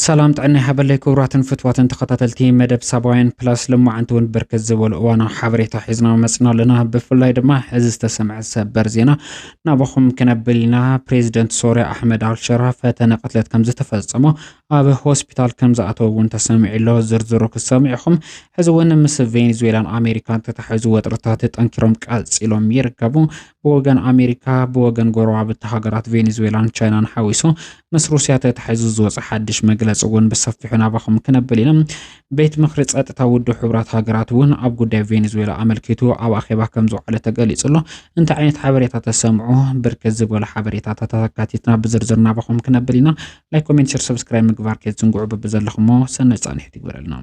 ሰላም ጥዕና ይሃበለይ ክቡራትን ፍትዋትን ተኸታተልቲ መደብ ሳባውያን ፕላስ ልማዓንቲ እውን ብርክት ዝበሉ እዋናዊ ሓበሬታ ሒዝና መፅና ኣለና ብፍላይ ድማ እዚ ዝተሰምዐ ሰበር ዜና ናባኹም ክነብል ኢና ፕሬዚደንት ሶርያ ኣሕመድ ኣልሸራ ፈተነ ቅትለት ከም ዝተፈፀሞ ኣብ ሆስፒታል ከምዝኣተወ እውን ተሰሚዑ'ሎ። ዝርዝሩ ክትሰምዑ ኢኹም። ሕዚ እውን ምስ ቬኔዙዌላን ኣሜሪካን ተታሒዙ ወጥርታት ጠንኪሮም ቀፂሎም ይርከቡ። ብወገን ኣሜሪካ ብወገን ጎረባብቲ ሃገራት ቬኔዙዌላን ቻይናን ሓዊሱ ምስ ሩስያ ተታሒዙ ዝወፀ ሓድሽ መግለፂ እውን ብሰፊሑ ናባኹም ክነብል ኢና። ቤት ምክሪ ፀጥታ ውድብ ሕቡራት ሃገራት እውን ኣብ ጉዳይ ቬኔዙዌላ ኣመልኪቱ ኣብ ኣኼባ ከም ዝውዓለ ተገሊጹ ኣሎ። እንታይ ዓይነት ሓበሬታ ተሰምዑ? ብርክት ዝበሉ ሓበሬታታት ኣካቲትና ብዝርዝር ናባኹም ክነብል ኢና። ላይክ ኮሜንት ሸር ሰብስክራይብ ምግባር ከይትዝንግዑ በብዘለኹሞ ሰናይ ጻንሒት ይግበረልና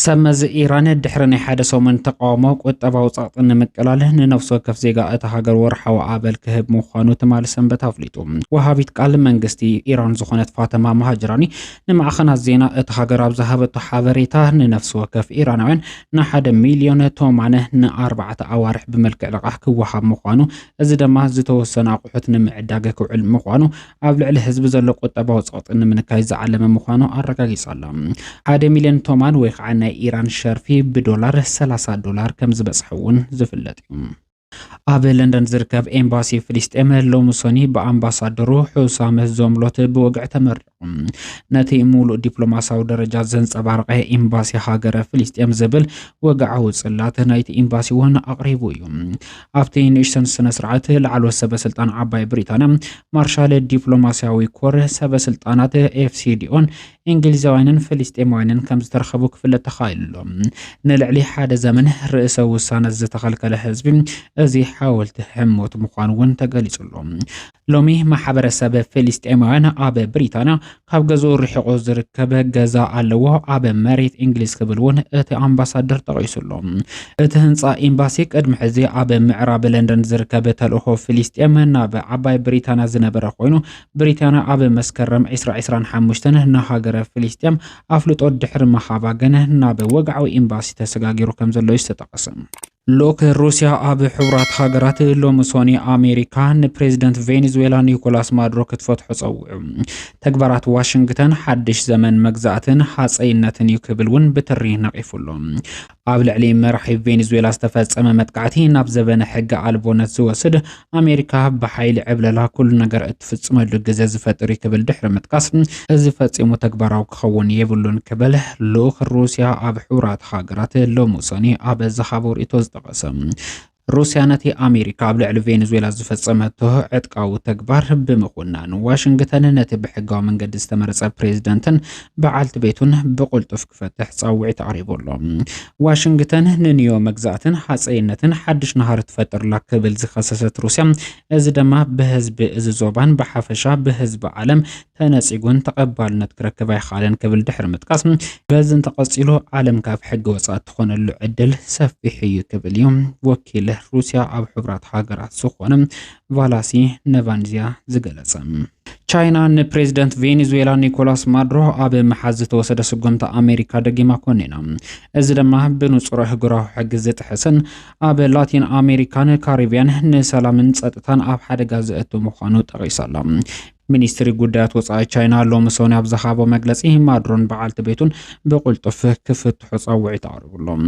ሰብ መዚ ኢራን ድሕሪ ናይ ሓደ ሰሙን ተቃውሞ ቁጠባዊ ጸቕጢ ንምቅላል ንነፍሲ ወከፍ ዜጋ እታ ሃገር ወርሓዊ ኣበል ክህብ ምዃኑ ትማሊ ሰንበት ኣፍሊጡ። ወሃቢት ቃል መንግስቲ ኢራን ዝኾነት ፋተማ ማሃጅራኒ ንማዕኸናት ዜና እታ ሃገር ኣብ ዝሃበቶ ሓበሬታ፣ ንነፍሲ ወከፍ ኢራናውያን ንሓደ ሚልዮን ቶማን ንኣርባዕተ ኣዋርሕ ብመልክዕ ልቓሕ ክወሃብ ምዃኑ፣ እዚ ደማ ዝተወሰኑ ኣቑሑት ንምዕዳግ ክውዕል ምዃኑ፣ ኣብ ልዕሊ ህዝቢ ዘሎ ቁጠባዊ ጸቕጢ ንምንካይ ዝዓለመ ምዃኑ ኣረጋጊጻ ኣላ። ሓደ ሚልዮን ቶማን ወይ ከዓ ናይ ኢራን ሸርፊ ብዶላር ሰላሳ ዶላር ከምዝበጽሐ'ውን ዝፍለጥ'ዩ። ኣብ ለንደን ዝርከብ ኤምባሲ ፍልስጤም ሎሚ ሶኒ ብኣምባሳደሩ ሑሳም ዞምሎት ብወግዒ ተመሪቑ። ነቲ ሙሉእ ዲፕሎማሲያዊ ደረጃ ዘንጸባረቐ ኤምባሲ ሃገረ ፍልስጤም ዝብል ወግዓዊ ጽላት ናይቲ ኤምባሲ እውን ኣቕሪቡ እዩ። ኣብቲ ንእሽተን ስነ ስርዓት ላዕለዎት ሰበስልጣን ዓባይ ብሪጣንያ ማርሻል ዲፕሎማሲያዊ ኮር ሰበስልጣናት ኤፍሲዲኦን እንግሊዛውያንን ፍልስጤማውያንን ከም ዝተረኸቡ ክፍለጥ ተኻኢሉ ኣሎ። ንልዕሊ ሓደ ዘመን ርእሰ ውሳነ ዝተኸልከለ ህዝቢ እዚ ሓወልቲ ሕሞት ምዃኑ እውን ተገሊጹ ኣሎ። ሎሚ ማሕበረሰብ ፍልስጤማውያን ኣብ ብሪታንያ ካብ ገዝኡ ርሒቑ ዝርከብ ገዛ ኣለዎ፣ ኣብ መሬት እንግሊዝ ክብል እውን እቲ ኣምባሳደር ጠቒሱ ኣሎ። እቲ ህንጻ ኤምባሲ ቅድሚ ሕዚ ኣብ ምዕራብ ለንደን ዝርከብ ተልእኾ ፍልስጤም ናብ ዓባይ ብሪታንያ ዝነበረ ኮይኑ ብሪታንያ ኣብ መስከረም ዕስራ ዕስራን ሓሙሽተን ንሃገረ ፍልስጤም ኣፍልጦ ድሕሪ ምሃባ ግን ናብ ወግዓዊ ኤምባሲ ተሰጋጊሩ ከም ዘሎ እዩ ዝተጠቐሰ። ልኡክ ሩስያ ኣብ ሕቡራት ሃገራት ሎሚ ሶኒ ኣሜሪካ ንፕሬዚደንት ቬኔዙዌላ ኒኮላስ ማዱሮ ክትፈትሖ ጸዊዑ ተግባራት ዋሽንግተን ሓድሽ ዘመን መግዛእትን ሃጸይነትን እዩ ክብል እውን ብትሪ ነቒፉ ኣሎ። ኣብ ልዕሊ መራሒ ቬንዙዌላ ዝተፈጸመ መጥቃዕቲ ናብ ዘበነ ሕገ ኣልቦነት ዝወስድ ኣሜሪካ ብሓይሊ ዕብለላ ኩሉ ነገር እትፍጽመሉ ግዘ ዝፈጥር እዩ ክብል ድሕሪ ምጥቃስ እዚ ፈጺሙ ተግባራዊ ክኸውን የብሉን ክብል ልኡኽ ሩስያ ኣብ ሕቡራት ሃገራት ሎሚ ሰኒ ኣብ ዝሃቦ ርእይቶ ዝጠቐሰ ሩስያ ነቲ ኣሜሪካ ኣብ ልዕሊ ቬንዙዌላ ዝፈጸመቶ ዕጥቃዊ ተግባር ብምኹናን፣ ዋሽንግተን ነቲ ብሕጋዊ መንገዲ ዝተመረጸ ፕሬዝደንትን በዓልቲ ቤቱን ብቕልጡፍ ክፈትሕ ጻውዒት ኣቕሪቡ ኣሎ። ዋሽንግተን ንንዮ መግዛእትን ሃጸይነትን ሓድሽ ናህሪ ትፈጥር'ላ ክብል ዝኸሰሰት ሩስያ፣ እዚ ደማ ብህዝቢ እዚ ዞባን ብሓፈሻ ብህዝቢ ዓለም ተነጺጉን ተቐባልነት ክረክብ ኣይኸኣለን ክብል ድሕሪ ምጥቃስ፣ በዚ እንተቐጺሉ ዓለም ካብ ሕጊ ወጻኢ እትኾነሉ ዕድል ሰፊሕ እዩ ክብል እዩ ወኪል ሩስያ ኣብ ሕቡራት ሃገራት ዝኾነ ቫላሲ ነቫንዚያ ዝገለጸ። ቻይና ንፕሬዚደንት ቬኔዙዌላ ኒኮላስ ማዱሮ ኣብ ምሓዝ ዝተወሰደ ስጉምቲ ኣሜሪካ ደጊማ ኮኒና እዚ ድማ ብንጹር ኣህጉራዊ ሕጊ ዝጥሕስን ኣብ ላቲን ኣሜሪካን ካሪቢያን ንሰላምን ጸጥታን ኣብ ሓደጋ ዘእቱ ምዃኑ ጠቒሳላ። ሚኒስትሪ ጉዳያት ወፃኢ ቻይና ሎሚ ሰኒ ኣብ ዝሃቦ መግለፂ ማድሮን በዓልቲ ቤቱን ብቁልጡፍ ክፍትሑ ፀውዒት ኣቕሪቡሎም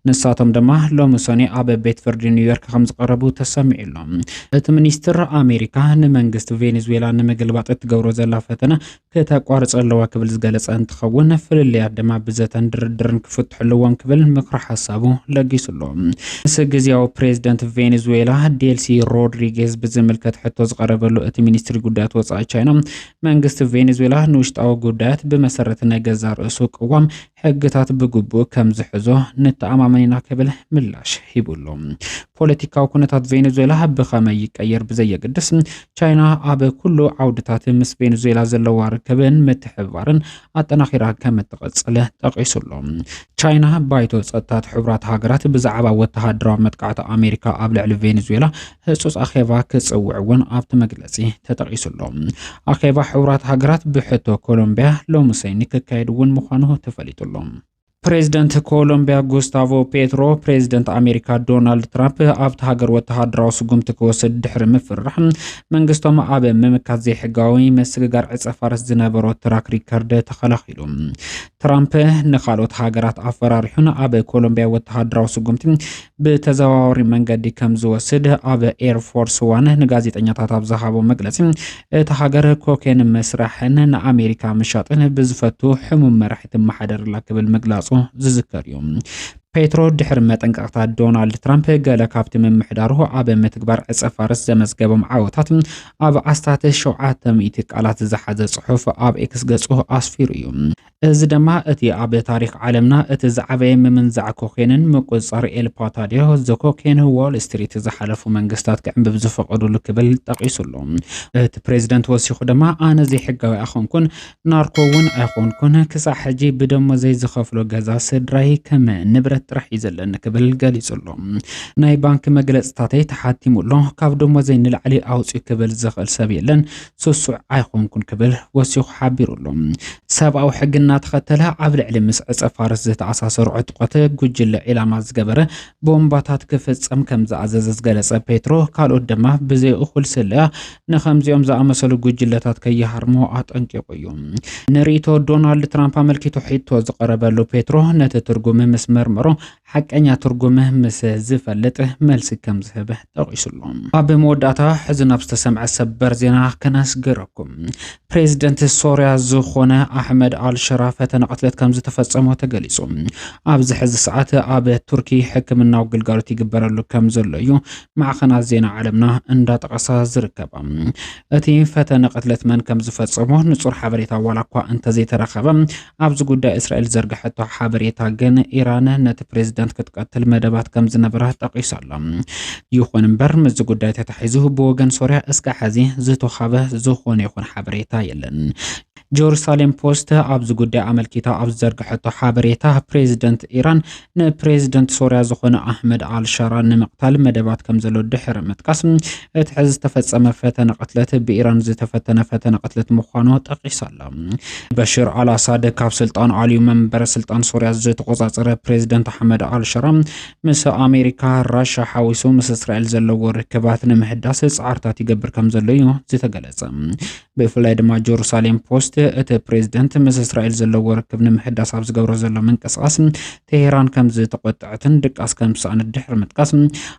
ንሳቶም ድማ ሎሚ ሰኒ ኣብ ቤት ፍርዲ ኒውዮርክ ከም ዝቐረቡ ተሰሚዑሎም እቲ ሚኒስትር ኣሜሪካ ንመንግስቲ ቬኔዙዌላ ንምግልባጥ እትገብሮ ዘላ ፈተነ ክተቋርፀ ኣለዋ ክብል ዝገለፀ እንትኸውን ፍልልያት ድማ ብዘተን ድርድርን ክፍትሑ ኣለዎም ክብል ምክሪ ሓሳቡ ለጊሱሎም ምስ ግዝያዊ ፕሬዝደንት ቬኔዙዌላ ዴልሲ ሮድሪጌዝ ብዝምልከት ሕቶ ዝቐረበሉ እቲ ሚኒስትሪ ጉዳያት ወፃኢ ቻይና መንግስቲ ቬኔዙዌላ ንውሽጣዊ ጉዳያት ብመሰረት ናይ ገዛ ርእሱ ቅዋም ሕግታት ብግቡእ ከም ዝሕዞ ንተኣማመን ኢና ክብል ምላሽ ሂቡሉ። ፖለቲካዊ ኩነታት ቬኔዙዌላ ብኸመይ ይቀየር ብዘየገድስ ቻይና ኣብ ኩሉ ዓውድታት ምስ ቬኔዙዌላ ዘለዋ ርክብን ምትሕብባርን ኣጠናኺራ ከም እትቐፅል ጠቒሱሉ። ቻይና ባይቶ ጸጥታት ሕቡራት ሃገራት ብዛዕባ ወተሃደራዊ መጥቃዕቲ ኣሜሪካ ኣብ ልዕሊ ቬንዙዌላ ህጹጽ ኣኼባ ክጽውዕ እውን ኣብቲ መግለጺ ተጠቒሱ ኣሎ። ኣኼባ ሕቡራት ሃገራት ብሕቶ ኮሎምቢያ ሎሚ ሰኒ ክካየድ እውን ምዃኑ ተፈሊጡ ኣሎ። ፕሬዚደንት ኮሎምቢያ ጉስታቮ ፔትሮ ፕሬዚደንት ኣሜሪካ ዶናልድ ትራምፕ ኣብቲ ሃገር ወተሃደራዊ ስጉምቲ ክወስድ ድሕሪ ምፍራሕ መንግስቶም ኣብ ምምካት ዘይሕጋዊ መስግጋር ዕፀ ፋርስ ዝነበሮ ትራክ ሪከርድ ተኸላኺሉ። ትራምፕ ንካልኦት ሃገራት ኣፈራሪሑን ኣብ ኮሎምቢያ ወተሃደራዊ ስጉምቲ ብተዘዋዋሪ መንገዲ ከም ዝወስድ ኣብ ኤርፎርስ ዋን ንጋዜጠኛታት ኣብ ዝሃቦ መግለፂ እቲ ሃገር ኮኬን መስራሕን ንኣሜሪካ ምሻጥን ብዝፈቱ ሕሙም መራሒ ትመሓደርላ ክብል ምግላፁ ዝዝከር እዩ። ፔትሮ ድሕሪ መጠንቀቕታ ዶናልድ ትራምፕ ገለ ካብቲ ምምሕዳሩ ኣብ ምትግባር ዕፀ ፋርስ ዘመዝገቦም ዓወታት ኣብ ኣስታት ሸውዓተ ሚእቲ ቃላት ዝሓዘ ጽሑፍ ኣብ ኤክስ ገጹ ኣስፊሩ እዩ። እዚ ደማ እቲ ኣብ ታሪኽ ዓለምና እቲ ዝዓበየ ምምንዛዕ ኮኬንን ምቁጽጻር ኤል ፓታዲዮ፣ The Cocaine Wall Street፣ ዝሓለፉ መንግስታት ክዕንብብ ዝፈቐዱሉ ክብል ጠቒሱ ኣሎ። እቲ ፕሬዝደንት ወሲኹ ደማ ኣነ ዘይሕጋዊ ኣኮንኩን፣ ናርኮ ውን ኣይኾንኩን፣ ክሳዕ ሕጂ ብደሞዘይ ዝኸፍሎ ገዛ ስድራይ ከም ንብረት ጥራሕ እዩ ዘለኒ ክብል ገሊጹ'ሎ። ናይ ባንኪ መግለጽታተይ ተሓቲሙ ኣሎ፣ ካብ ደሞዘይ ንላዕሊ ኣውጽኡ ክብል ዝኽእል ሰብ የለን፣ ስሱዕ ኣይኾንኩን ክብል ወሲኹ ሓቢሩ ኣሎ። ሰብኣዊ ሕጊ እናተኸተለ ኣብ ልዕሊ ምስ ዕጸ-ፋርስ ዝተኣሳሰሩ ዕጡቓት ጉጅለ ዒላማ ዝገበረ ቦምባታት ክፍጸም ከምዝኣዘዘ ዝገለጸ ፔትሮ፣ ካልኦት ድማ ብዘይእኹል ስለያ ንኸምዚኦም ዝኣመሰሉ ጉጅለታት ከይሃርሞ ኣጠንቂቑ እዩ። ንርእይቶ ዶናልድ ትራምፕ ኣመልኪቱ ሕቶ ዝቐረበሉ ፔትሮ ነቲ ትርጉም ምስ መርመሮ ሓቀኛ ትርጉም ምስ ዝፈልጥ መልሲ ከም ዝህብ ጠቒሱሉ። ኣብ መወዳእታ ሕዚ ናብ ዝተሰምዐ ሰበር ዜና ከነስግረኩም። ፕሬዚደንት ሶርያ ዝኾነ ኣሕመድ ኣልሸራ ፈተነ ቅትለት ከም ዝተፈጸሞ ተገሊጹ። ኣብዚ ሕዚ ሰዓት ኣብ ቱርኪ ሕክምናዊ ግልጋሎት ይግበረሉ ከም ዘሎ እዩ ማዕኸናት ዜና ዓለምና እንዳጠቐሳ ዝርከባ እቲ ፈተነ ቅትለት መን ከም ዝፈጸሞ ንጹር ሓበሬታ ዋላ እኳ እንተዘይተረኸበ ኣብዚ ጉዳይ እስራኤል ዘርግሐቶ ሓበሬታ ግን ኢራን ነቲ ፕሬዝደንት ክትቀትል መደባት ከም ዝነበራ ጠቒሱ ኣሎ። ይኹን እምበር ምስዚ ጉዳይ ተታሒዙ ብወገን ሶርያ እስከ ሕዚ ዝተኻበ ዝኾነ ይኹን ሓበሬታ የለን። ጀሩሳሌም ፖስት ኣብዚ ጉዳይ ኣመልኪታ ኣብ ዝዘርግሐቶ ሓበሬታ ፕሬዚደንት ኢራን ንፕሬዚደንት ሶርያ ዝኾነ ኣሕመድ ኣልሻራ ንምቕታል መደባት ከም ዘሎ ድሕሪ ምጥቃስ እቲ ሕዚ ዝተፈጸመ ፈተነ ቅትለት ብኢራን ዝተፈተነ ፈተነ ቅትለት ምዃኑ ጠቂሳ ኣላ። በሽር ኣልኣሳድ ካብ ስልጣን ኣልዩ መንበረ ስልጣን ሶርያ ዝተቆጻጸረ ፕሬዚደንት ኣሕመድ ኣልሸራ ምስ ኣሜሪካ፣ ራሻ ሓዊሱ ምስ እስራኤል ዘለዎ ርክባት ንምሕዳስ ጻዕርታት ይገብር ከም ዘሎ እዩ ዝተገለጸ። ብፍላይ ድማ ጀሩሳሌም ፖስት እቲ ፕሬዝደንት ምስ እስራኤል ዘለዎ ርክብ ንምሕዳስ ኣብ ዝገብሮ ዘሎ ምንቅስቓስ ቴሄራን ከም ዝተቆጠዐትን ድቃስ ከም ዝሰኣነት ድሕሪ ምጥቃስ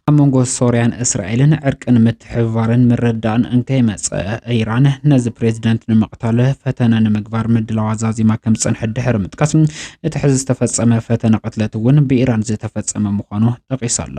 ኣብ መንጎ ሶርያን እስራኤልን ዕርቅን ምትሕብባርን ምርዳእን እንከይመፀ ኢራን ነዚ ፕሬዝደንት ንምቕታል ፈተነ ንምግባር ምድላዋ ዛዚማ ከም ዝፀንሐት ድሕሪ ምጥቃስ እቲ ሕዚ ዝተፈፀመ ፈተነ ቅትለት እውን ብኢራን ዝተፈፀመ ምዃኑ ጠቒሳላ።